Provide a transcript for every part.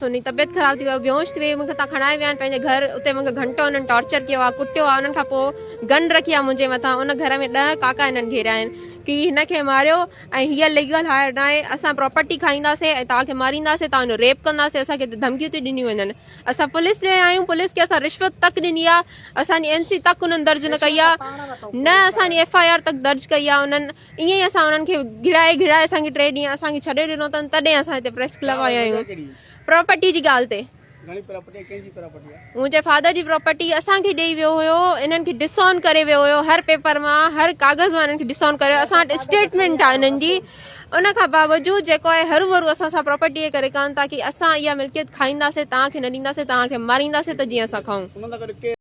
هن جي طبيعت خراب ٿي وئي هئي، بيهوش ٿي وئي هئي، مون کي هتان کڻائي ويا آهن پنهنجي گهر، اتي مون کي گهنٽو هنن ٽارچر ڪيو آهي، ڪٽيو آهي، انهن کان پوء گن رکي آهي منهنجي مٿان، ان گهر ۾ ڏهه ڪاڪا هنن گهيريا آهن، ڪي هن کي ماريو ۽ هيء ليگل هائير ناهي، اسان پراپرٽي کائينداسين ۽ توهان کي مارينداسين، توهان جو ريپ ڪنداسين، اسان کي هتي ڌمڪيون ٿي ڏنيون وڃن، اسان پوليس ڏي ويا آهيون، پوليس کي اسان رشوت تڪ ڏني آهي، اسان جي اين سي تڪ انهن درج نه ڪئي آهي، نه اسان جي ايف آء آر تڪ درج ڪئي آهي انهن. ائين ئي اسان انهن کي گهڙائي گهڙائي اسان کي ٽي ڏينهن اسان کي ڇڏي ڏنو اٿن تڏهن اسان هتي پريس ڪلب آيا آهيون پراپرٽي جي ڳالهه تي منهنجي فادر جي پراپرٽي اسان کي ڏيئي ويو هيو انهن کي ڊس آن ڪري ويو هيو هر پيپر مان هر ڪاغذ مان انهن کي ڊس آن ڪري اسان وٽ اسٽيٽمنٽ آهي انهن جي ان کان باوجود جيڪو آهي هرو ڀرو اسان سان پراپرٽي ائين ڪري ڪن ٿا ڪي اسان اها ملڪيت کائينداسين توهان کي نه ڏينداسين توهان کي مارينداسين ته جيئن اسان کائون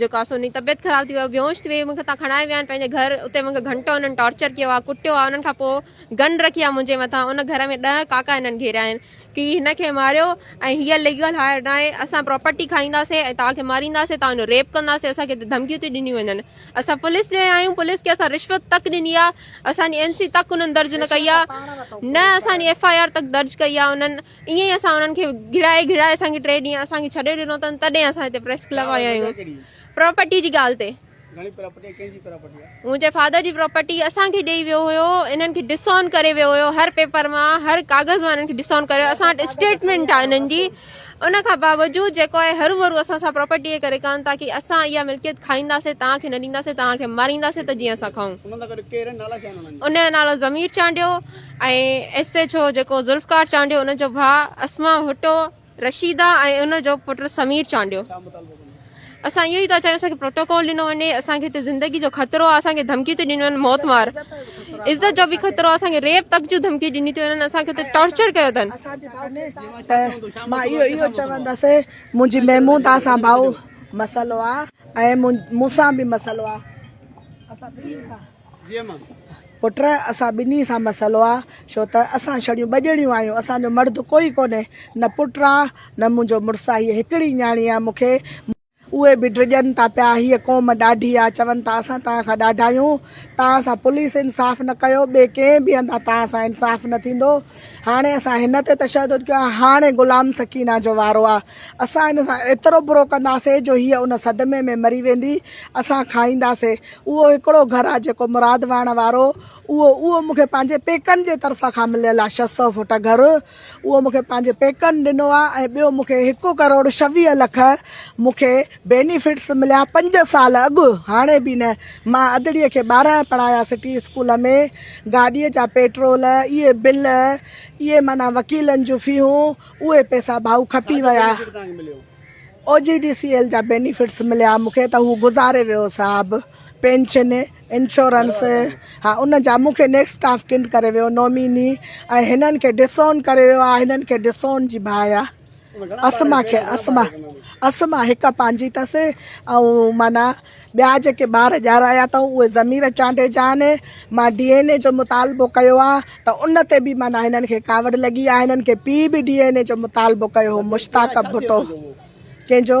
جو ڪا سوني طبيعت خراب ٿي وئي هئي بيهوش ٿي وئي هئي مونکي هتان کڻائي ويا آهن پنهنجي گهر اتي مونکي گهنٽو انهن ٽارچر ڪيو آهي ڪٽيو آهي انهن کان پوء گن رکي آهي منهنجي مٿان ان گهر ۾ ڏهه ڪاڪا انهن گهيريا آهن ڪي هن کي ماريو ۽ هيء ليگل هائر ناهي اسان پراپرٽي کائينداسين ۽ توهان کي مارينداسين توهان جو ريپ ڪنداسين اسان کي هتي ڌمڪيون ٿي ڏنيون وڃن اسان پوليس ڏي ويا آهيون پوليس کي اسان رشوت تڪ ڏني آهي اسان جي اين سي تڪ انهن درج نه ڪئي آهي نه اسان جي ايف آء آر تڪ درج ڪئي آهي انهن ائين ئي اسان انهن کي گهڙائي گهڙائي اسان کي ٽي ڏينهن اسان کي ڇڏي ڏنو اٿن تڏهن اسان هتي پريس ڪلب آيا آهيون پراپرٽي جي ڳالهه تي منهنجي فادر جي پراپرٽي اسان کي ڏيئي ويو هيو انهن کي ڊسون ڪري ويو هيو هر پيپر مان هر ڪاغذ مان انهن کي ڊسون ڪري ويو اسان وٽ اسٽيٽمنٽ آهي انهن جي ان کان باوجود جيڪو آهي هرو ڀرو اسان سان پراپرٽي جي ڪري ڪن تاڪي اسان اها ملڪيت کائينداسين تان کي نه ڏينداسين تان کي مارينداسين ته جيئن اسان کائون ان جو نالو Zameer Chandio ۽ S H O جيڪو ذوالفقار چانڊيو ان جو ڀاء اسما ڀٽو رشيده ۽ ان جو پٽ سمير چانڊيو اسان اهو ئي ٿا چاهيون اسانکي پروٽوڪول ڏنو وڃي اسانکي هتي زندگي جو خطرو آهي اسانکي ڌمڪي ٿي ڏني وڃن موت مار عزت جو به خطرو آهي اسانکي ريپ تڪ جون ڌمڪي ڏني ٿي وڃن اسانکي هتي ٽارچر ڪيو اٿن مان اهو اهو چوندس منهنجي محمودا سان ڀائو مسئلو آهي ۽ مون سان به مسئلو آهي اسان ٻنهي سان پٽ اسان ٻنهي سان مسئلو آ ڇو ته اسان ڇڙيون ٻه ڄڻيون آهيون اسان جو مرد ڪوئي ڪونهي نه پٽ آ نه منهنجو مڙس آ هيء هڪڙي نياڻي آ مون کي اهي به ڊڄن ٿا پيا هيء قوم ڏاڍي آ چون ٿا اسان توهان کان ڏاڍا آهيون توهان سان پوليس انصاف نه ڪيو ٻي ڪنهن به هنڌان توهان سان انصاف نه ٿيندو. هاڻي اسان هن تي تشدد ڪيو آهي، هاڻي غلام سڪينه جو وارو آهي، اسان هن سان ايترو برو ڪنداسين جو هيء ان صدمي ۾ مري ويندي، اسان کائينداسين، اهو هڪڙو گهر آهي جيڪو مراد وهڻ وارو، اهو، اهو مون کي پنهنجي پيڪن جي طرفان کان مليل آهي، ڇهه سؤ فوٽ گهر، اهو مون کي پنهنجي پيڪن ڏنو آهي ۽ ٻيو مون کي هڪ ڪروڙ ڇويهه لک مون کي. بينيفٽس مليا پنج سال اڳ هاڻي به نه مان ادڙي کي ٻارهن پڙهايا سٽي اسڪول ۾ گاڏي جا پيٽرول اهي بل اهي معنيٰ وڪيلن جون فيهون اهي پيسا ڀائو کپي ويا O G D C L جا بينيفٽس مليا مون کي ته هو گذاري ويو صاحب پينشن انشورنس ها ان جا مون کي نيڪسٽ اسٽاف ڪنڊ ڪري ويو نوميني ۽ هنن کي ڊسون ڪري ويو آ هنن کي ڊسون جي باهه آ اسما کي اسما اسما هڪ پنهنجي ٿس ۽ معنيٰ ٻيا جيڪي ٻار ڄارايا اٿئون اهي ضمير چانڊيي جا آهن مان ڊي اين اي جو مطالبو ڪيو آهي ته ان تي به معنيٰ هنن کي ڪاوڙ لڳي آهي هنن کي پي به ڊي اين اي جو مطالبو ڪيو هو مشتاق ڀٽو ڪنهن جو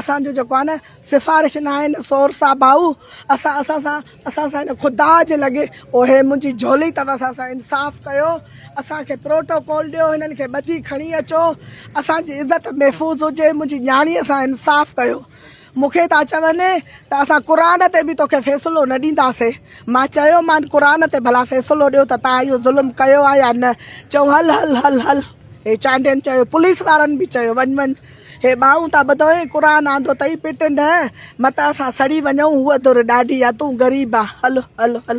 اسان جو جيڪو آهي نه سفارش نه آهي نه سورس آهي ڀائو اسان اسان سان اسان سان هن خدا جي لڳي او هي منهنجي جهولي اٿو اسان سان انصاف ڪيو اسانکي پروٽوڪول ڏيو هنن کي ٻڌي کڻي اچو اسانجي عزت محفوظ هجي منهنجي نياڻي سان انصاف ڪيو مونکي ٿا چون ته اسان قرآن تي به توکي فيصلو نه ڏينداسي مان چيو مان قرآن تي ڀلا فيصلو ڏيو ته تان اهو ظلم ڪيو آهي يا نه چئو هل هل هل هل هي چانڊين چيو پوليس وارن به چيو وڃ وڃ هي ٻانهون تان ٻڌوئين قرآن آندو تئي پٽ نه مت اسان سڙي وڃون هوء ڌر ڏاڍي آ تون غريب آ هل هل هل.